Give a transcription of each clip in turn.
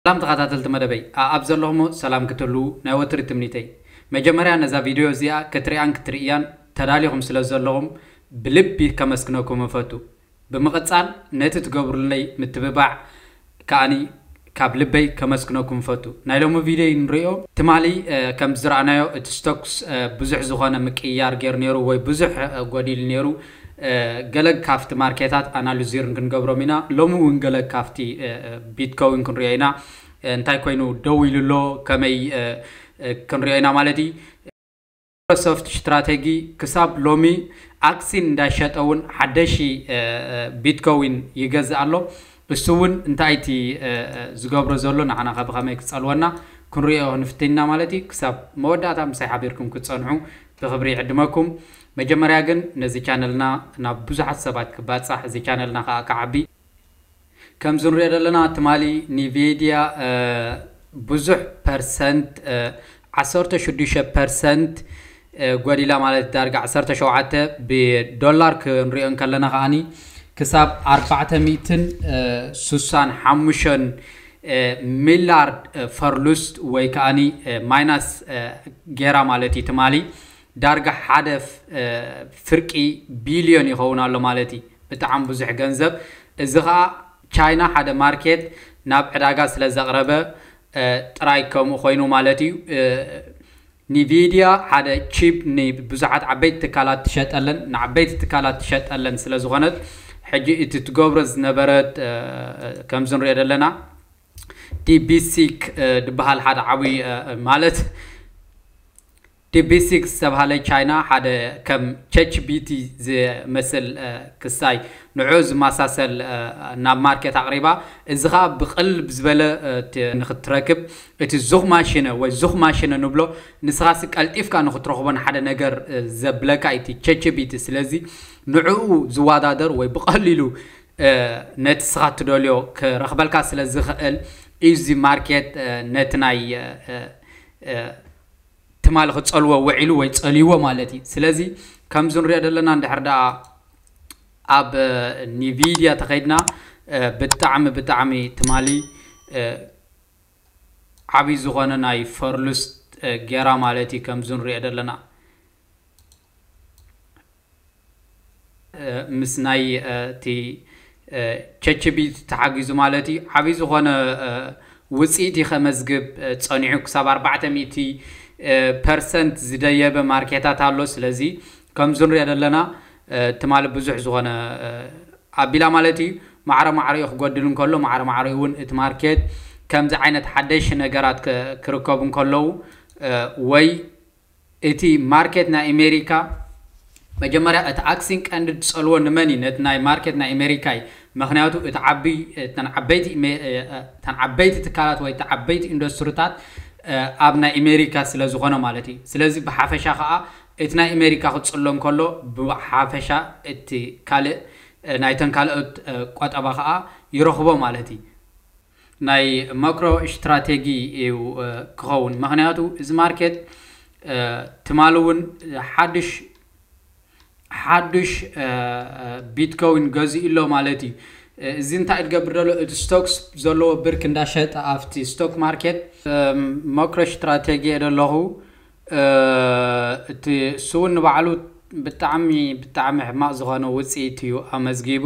ሰላም ተኻታተልቲ መደበይ ኣኣብ ዘለኹሞ ሰላም ክትህልዉ ናይ ወትሪ ትምኒተይ መጀመርያ ነዛ ቪደዮ እዚኣ ክትሪኣን ክትርእያን ተዳሊኹም ስለ ዘለኹም ብልቢ ከመስግነኩም እፈቱ ብምቕጻል ነቲ ትገብሩለይ ምትብባዕ ከኣ ካብ ልበይ ከመስግነኩም እፈቱ ናይ ሎሚ ቪደዮ ንሪኦ ትማሊ ከም ዝረኣናዮ እቲ ዝተኩስ ብዙሕ ዝኾነ ምቅይያር ጌሩ ኔሩ ወይ ብዙሕ ጎዲሉ ኔሩ ገለግ ካፍቲ ማርኬታት ኣናሉዚርን ክንገብሮም ኢና። ሎሚ እውን ገለግ ካፍቲ ቢትኮዊን ክንሪኦ ኢና። እንታይ ኮይኑ ደው ኢሉ ኣሎ ከመይ ክንሪኦ ኢና ማለት እዩ። ማይክሮሶፍት ሽትራቴጊ ክሳብ ሎሚ ኣክሲን እንዳሸጠ እውን ሓደሺ ቢትኮዊን ይገዝእ ኣሎ። እሱ እውን እንታይ እቲ ዝገብሮ ዘሎ ንዓና ከ ብከመይ ክጸልወና ክንሪኦ ክንፍትን ኢና ማለት እዩ። ክሳብ መወዳእታ ምሳይ ሓቢርኩም ክትጸንሑ ብክብሪ ይዕድመኩም። መጀመርያ ግን ነዚ ቻነልና ናብ ብዙሓት ሰባት ክባጻሕ እዚ ቻነልና ከኣ ክዓቢ ከምዚ ንሪኦ ዘለና ትማሊ ኒቬድያ ብዙሕ ፐርሰንት ዓሰርተ ሽዱሽተ ፐርሰንት ጎዲላ ማለት ዳርጋ ዓሰርተ ሸውዓተ ብዶላር ክንሪኦ እንከለና ከኣ ክሳብ ኣርባዕተ ሚእትን ሱሳን ሓሙሸን ሚላርድ ፈርሉስት ወይ ከኣ ማይናስ ጌራ ማለት እዩ ትማሊ ዳርጋ ሓደ ፍርቂ ቢልዮን ይኸውን ኣሎ ማለት እዪ። ብጣዕሚ ብዙሕ ገንዘብ። እዚ ኸኣ ቻይና ሓደ ማርኬት ናብ ዕዳጋ ስለ ዘቕረበ ጥራይ ከምኡ ኮይኑ ማለት እዩ። ኒቪድያ ሓደ ቺፕ ንብዙሓት ዓበይቲ ትካላት ትሸጠለን ንዓበይቲ ትካላት ትሸጠለን ስለ ዝኾነት ሕጂ እቲ ትገብሮ ዝነበረት ከምዚ ንሪኦ ዘለና ዲቢሲክ ድበሃል ሓደ ዓብዪ ማለት ዲፕሲክ ዝተብሃለ ቻይና ሓደ ከም ቸችቢቲ ዝመስል ክሳይ ንዕኡ ዝመሳሰል ናብ ማርኬት ኣቕሪባ፣ እዚ ከኣ ብቕልል ዝበለ ንኽትረክብ እቲ ዙኽማሽነ ወይ ሱኽማሽነ ንብሎ ንስኻሲ ቀልጢፍካ ንኽትረኽቦን ሓደ ነገር ዘብለካ እዩ እቲ ቸችቢቲ ስለዚ ንዕኡ ዝወዳደር ወይ ብቐሊሉ ነቲ ስኻ ትደልዮ ክረኽበልካ ስለዝኽእል እዩ እዚ ማርኬት ነቲ ናይ ትማሊ ክጸልዎ ውዒሉ ወይ ጸልይዎ ማለት እዩ። ስለዚ ከምዚ ንሪኦ ዘለና እንድሕር ደኣ ኣብ ኒቪድያ ተኸይድና ብጣዕሚ ብጣዕሚ ትማሊ ዓብይ ዝኾነ ናይ ፈርሉስት ጌራ ማለት እዩ ከምዚ ንሪኦ ዘለና። ምስ ናይ እቲ ቸችቢ ተሓጊዙ ማለት እዩ ዓብይ ዝኾነ ውፅኢት እዩ ከመዝግብ ፀኒዑ ክሳብ ኣርባዕተ ሚእቲ ፐርሰንት ዝደየበ ማርኬታት ኣሎ ስለዚ ከምዚ ንሪኦ ዘለና ትማሊ ብዙሕ ዝኾነ ኣቢላ ማለት እዩ ማዕረ ማዕረኡ ክጎድል እንከሎ ማዕረ ማዕረኡ እውን እቲ ማርኬት ከምዚ ዓይነት ሓደሽ ነገራት ክርከቡ እንከለዉ ወይ እቲ ማርኬት ናይ እሜሪካ መጀመርያ እቲ ኣክሲን ቀንዲ ድጸልዎ ንመን እዩ ነቲ ናይ ማርኬት ናይ እሜሪካ እዩ መክንያቱ እቲ ዓቢ እተን ዓበይቲ እተን ዓበይቲ ትካላት ወይ እቲ ዓበይቲ ኢንዶስትርታት ኣብ ናይ እሜሪካ ስለ ዝኮነ ማለት እዩ ስለዚ ብሓፈሻ ከኣ እቲ ናይ እሜሪካ ክጽሎ እንከሎ ብሓፈሻ እቲ ካልእ ናይተን ካልኦት ቆጠባ ከኣ ይረክቦ ማለት እዩ ናይ ማክሮ እሽትራቴጊ እዩ ክኸውን ምክንያቱ እዚ ማርኬት ትማሊ እውን ሓዱሽ ሓዱሽ ቢትኮዊን ገዚኡ ኣሎ ማለት እዩ እዚ እንታይ እትገብር ደሎ እቲ ስቶክስ ዘለዎ ብርክ እንዳሸጠ ኣብቲ ስቶክ ማርኬት ማክሮ እሽትራቴጊ እየ ደለኹ እቲ ስውን ንባዕሉ ብጣዕሚ ብጣዕሚ ሕማቅ ዝኾነ ውፅኢት እዩ ኣመዝጊቡ።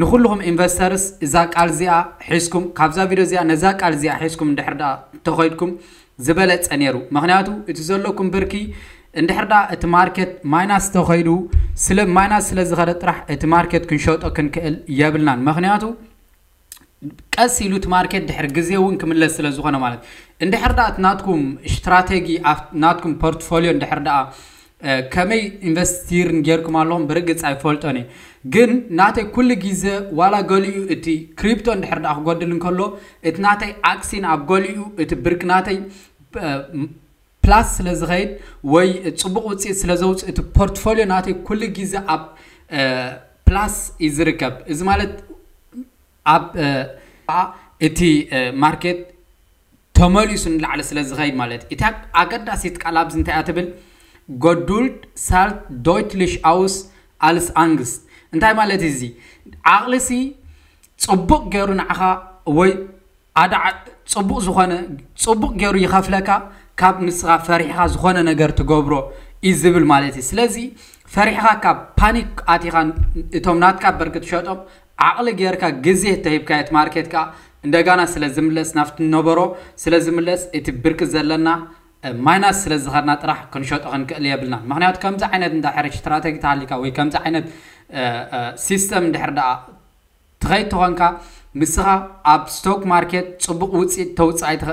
ንኹሉኹም ኢንቨስተርስ እዛ ቃል እዚኣ ሒዝኩም ካብዛ ቪድዮ እዚኣ ነዛ ቃል እዚኣ ሒዝኩም እንድሕር ድኣ እንተኸይድኩም ዝበለጸ ኔሩ ምኽንያቱ እቲ ዘለኩም ብርኪ እንድሕር ድኣ እቲ ማርኬት ማይናስ ተኸይዱ ስለ ማይናስ ስለ ዝኸደ ጥራሕ እቲ ማርኬት ክንሸጦ ክንክእል የብልናን ምኽንያቱ ቀስ ኢሉ እቲ ማርኬት ድሕር ግዜ እውን ክምለስ ስለ ዝኾነ ማለት እንድሕር ድኣ እቲ ናትኩም ስትራቴጊ ናትኩም ፖርትፎሊዮ እንድሕር ድኣ ከመይ ኢንቨስቲርን ጌርኩም ኣለኹም ብርግጽ ኣይፈልጦን እየ ግን ናተይ ኩሉ ግዜ ዋላ ገሊኡ እቲ ክሪፕቶ እንድሕር ደኣ ክጎድል እንከሎ እቲ ናተይ ኣክሲን ኣብ ገሊኡ እቲ ብርኪ ናተይ ፕላስ ስለ ዝኸይድ ወይ ጽቡቕ ውጽኢት ስለ ዘውጽእ እቲ ፖርትፎሊዮ ናተይ ኩሉ ግዜ ኣብ ፕላስ እዩ ዝርከብ እዚ ማለት ኣብ እቲ ማርኬት ተመሊሱ ንላዕሊ ስለ ዝኸይድ ማለት እዩ። እታ ኣገዳሲት ቃል ኣብዚ እንታይ እያ ትብል? Geduld zahlt deutlich aus als Angst እንታይ ማለት እዩ እዚ? ዓቕሊሲ ጽቡቕ ገይሩ ንዓኻ ወይ ኣዳዕ ጽቡቕ ዝኾነ ጽቡቕ ገይሩ ይኸፍለካ ካብ ንስኻ ፈሪሕኻ ዝኾነ ነገር ትገብሮ እዩ ዝብል ማለት እዩ። ስለዚ ፈሪሕኻ ካብ ፓኒክ ኣቲኻ እቶም ናትካ ብርኪ ትሸጦም ዓቕሊ ጌርካ ግዜ እተሂብካዮ እቲ ማርኬት ከኣ እንደጋና ስለ ዝምለስ ናብቲ ዝነበሮ ስለ ዝምለስ እቲ ብርኪ ዘለና ማይናስ ስለ ዝኸድና ጥራሕ ክንሸጦ ክንክእል የብልናን ምኽንያቱ ከምዚ ዓይነት እንድሕር ስትራተጊ ተሃሊካ ወይ ከምዚ ዓይነት ሲስተም እንድሕር ደኣ ትኸይድ ተኾንካ ንስኻ ኣብ ስቶክ ማርኬት ጽቡቕ ውጽኢት ተውጽእ ኣይትኸ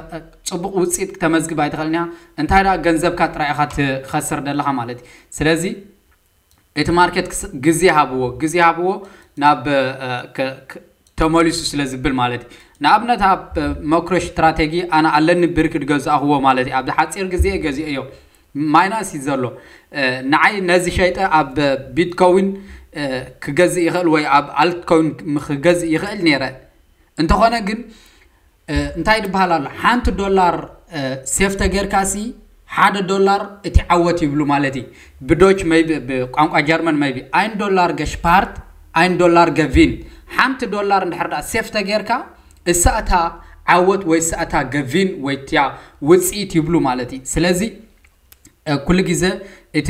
ጽቡቕ ውጽኢት ክተመዝግብ ኣይትኽእልን ኢኻ እንታይ ደኣ ገንዘብካ ጥራይ ኢኻ ትኸስር ደለኻ ማለት እዩ ስለዚ እቲ ማርኬት ግዜ ሃብዎ ግዜ ሃብዎ ናብ ተመሊሱ ስለ ዝብል ማለት እዩ ንኣብነት ኣብ መክሮ ስትራቴጂ ኣነ ኣለኒ ብርኪ ድገዛእኽዎ ማለት እዩ ኣብዚ ሓፂር ግዜ ገዚኦ እዮ ማይናስ እዩ ዘሎ ንዓይ ነዚ ሸይጠ ኣብ ቢትኮዊን ክገዝእ ይኽእል ወይ ኣብ ኣልትኮዊን ክገዝእ ይኽእል ነይረ እንተኾነ ግን እንታይ ድበሃል ኣሎ ሓንቲ ዶላር ሴፍ ተገርካሲ ሓደ ዶላር እቲ ዓወት ይብሉ ማለት እዩ ብዶች መይቢ ብቋንቋ ጀርመን መይቢ ኣይን ዶላር ገሽፓርት ኣይን ዶላር ገቪን ሓንቲ ዶላር እንድሕር ዳኣ ሴፍ ተገርካ እሳ እታ ዓወት ወይ እሳ እታ ገቪን ወይ እቲያ ውፅኢት ይብሉ ማለት እዩ ስለዚ ኩሉ ግዜ እቲ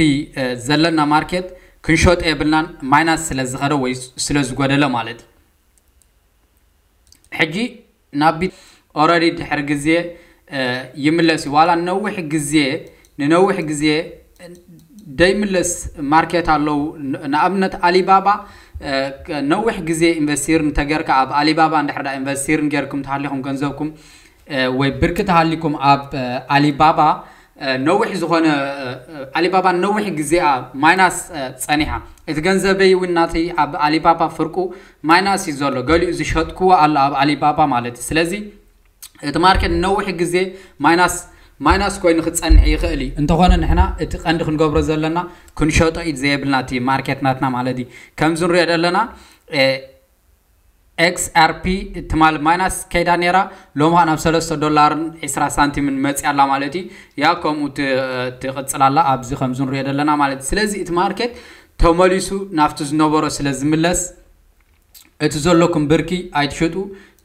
ዘለና ማርኬት ክንሸጦ የብልናን ማይናስ ስለ ዝኸደ ወይ ስለ ዝጎደለ ማለት እዩ ሕጂ ናብ ኦረዲ ድሕሪ ግዜ ይምለስ እዩ ዋላ ነዊሕ ግዜ ንነዊሕ ግዜ ደይምለስ ማርኬት ኣለው ንኣብነት ኣሊባባ ነዊሕ ግዜ ኢንቨስቲር እንተገርካ ኣብ ኣሊባባ እንድሕር ኢንቨስቲር ገርኩም ተሃሊኹም ገንዘብኩም ወይ ብርኪ ተሃሊኩም ኣብ ኣሊባባ ነዊሕ ዝኾነ ኣሊባባ ነዊሕ ግዜኣ ማይናስ ጸኒሓ እቲ ገንዘበይ እውን ናተይ ኣብ ኣሊባባ ፍርቁ ማይናስ እዩ ዘሎ ገሊኡ ዝሸጥክዎ ኣሎ ኣብ ኣሊባባ ማለት እዩ ስለዚ እቲ ማርኬት ንነዊሕ ግዜ ማይናስ ማይናስ ኮይኑ ክጸንሕ ይኽእል እዩ እንተኾነ ንሕና እቲ ቀንዲ ክንገብሮ ዘለና ክንሸጦ ኢድ ዘየብልና እቲ ማርኬት ናትና ማለት እዩ ከምዚ ንሪኦ ዘለና XRP ትማል ማይናስ ከይዳ ነይራ ሎሚ ከዓ ናብ ሰለስተ ዶላርን ዒስራ ሳንቲምን መፅያ ኣላ ማለት እዩ ያው ከምኡ ት- ትቕፅል ኣላ ኣብዚ ከምዚ ንሪኦ ዘለና ማለት እዩ ስለዚ እቲ ማርኬት ተመሊሱ ናብቲ ዝነበሮ ስለ ዝምለስ እቲ ዘለኩም ብርኪ ኣይትሸጡ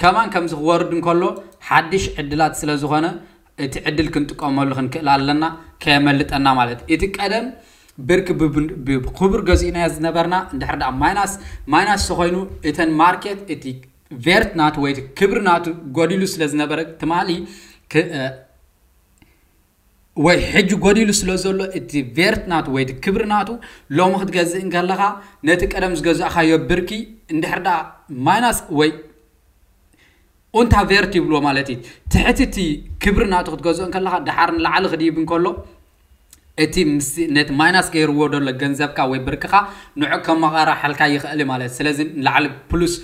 ከማን ከምዚ ክወርድ እንከሎ ሓድሽ ዕድላት ስለ ዝኾነ እቲ ዕድል ክንጥቀመሉ ክንክእል ኣለና ከየመልጠና ማለት እዩ። እቲ ቀደም ብርኪ ብክቡር ገዚእናዮ ዝነበርና እንድሕር ደኣ ማይናስ ማይናስ ተኾይኑ እተን ማርኬት እቲ ቬርት ናቱ ወይ እቲ ክብሪ ናቱ ጎዲሉ ስለ ዝነበረ ትማሊ ወይ ሕጂ ጎዲሉ ስለ ዘሎ እቲ ቬርት ናቱ ወይ እቲ ክብሪ ናቱ ሎሚ ክትገዝእ እንከለኻ ነቲ ቀደም ዝገዛእኻዮ ብርኪ እንድሕር ደኣ ማይናስ ወይ ኡንታ ቨርት ይብልዎ ማለት እዪ ትሕቲ እቲ ክብሪ ናቱ ክትገዝኦ እንከለካ ደሓር ንላዕሊ ክድይብ እንከሎ እቲ ምስቲ ነቲ ማይናስ ገይርዎ ደሎ ገንዘብካ ወይ ብርክካ ንዑ ከመቃራሓልካ ይክእል እዪ ማለት ስለዚ ንላዕሊ ፕሉስ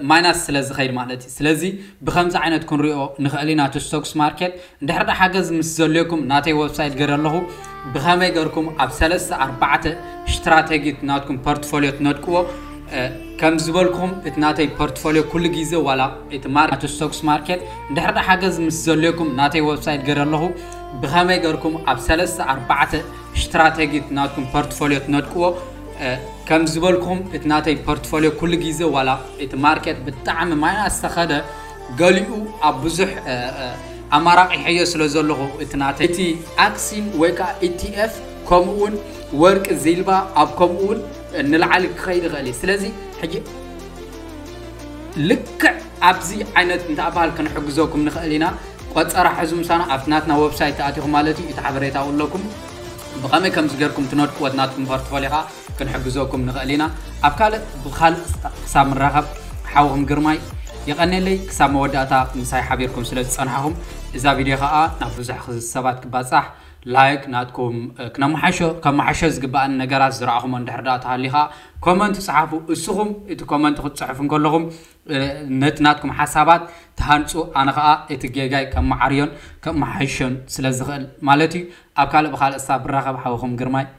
ማይናስ ስለ ዝከይድ ማለት እዪ ስለዚ ብከምዚ ዓይነት ክንሪኦ ንክእል ኢና እቲ ስቶክስ ማርኬት እንድሕር ዳኣ ሓገዝ ምስ ዘልኩም ናተይ ወብሳይት ገረ ኣለኩ ብከመይ ገርኩም ኣብ ሰለስተ ኣርባዕተ ሽትራተጊ እቲ ናትኩም ፐርትፎልዮ ትነድቅዎ ከም ዝበልኩም እቲ ናተይ ፐርትፎልዮ ኩሉ ግዜ ዋላ እቲ ማርኬት ስቶክስ ማርኬት እንድሕር ዳኣ ሓገዝ ምስ ዘልኩም ናተይ ወብሳይት ገረ ኣለኩ ብከመይ ገርኩም ኣብ ሰለስተ ኣርባዕተ ሽትራተጊ እቲ ናትኩም ፐርትፎልዮ ትነድቅዎ ከም ዝበልኩም እቲ ናተይ ፐርትፎልዮ ኩሉ ግዜ ዋላ እቲ ማርኬት ብጣዕሚ ማይናስ ተከደ ገሊኡ ኣብ ብዙሕ ኣማራቂሐዮ ስለ ዘለኹ እቲ ናተይ እቲ ኣክሲን ወይ ከዓ ኢቲኤፍ ከምኡ እውን ወርቂ ዚልባ ኣብ ከምኡ እውን ንላዕሊ ክኸይድ ይኽእል እዩ ስለዚ ሕጂ ልክዕ ኣብዚ ዓይነት እንተባሃል ክንሕግዘኩም ንኽእል ኢና ቆፀራ ሕዙ ምሳና ኣብቲ ናትና ወብሳይት ተኣቲኹም ማለት እዩ እቲ ሓበሬታኡ ኣለኩም ብኸመይ ከምዚ ጌርኩም ትነድቅዎ ናትኩም ፖርትፎሊዮ ከዓ ክንሕግዘኩም ንክእል ኢና ኣብ ካልእ ብካልእ ክሳብ ንራከብ ሓውኩም ግርማይ የቀኔለይ ክሳብ መወዳእታ ምሳይ ሓቢርኩም ስለ ዝጸናሕኩም እዛ ቪድዮ ከኣ ናብ ብዙሕ ሰባት ክባጻሕ ላይክ ናትኩም ክነማሓሾ ከማሓሾ ዝግባኣኒ ነገራት ዝራኣኹሞ እንድሕር ደኣ ተሃልዩ ከኣ ኮመንት ጽሓፉ እስኹም እቲ ኮመንት ክትጽሕፉ እንከለኹም ነቲ ናትኩም ሓሳባት ትሃንጹ ኣነ ከኣ እቲ ጌጋይ ከማዓርዮን ከማሓሾን ስለ ዝኽእል ማለት እዩ ኣብ ካልእ ብካልእ ሳብ ብራኸብ ሓውኹም ግርማይ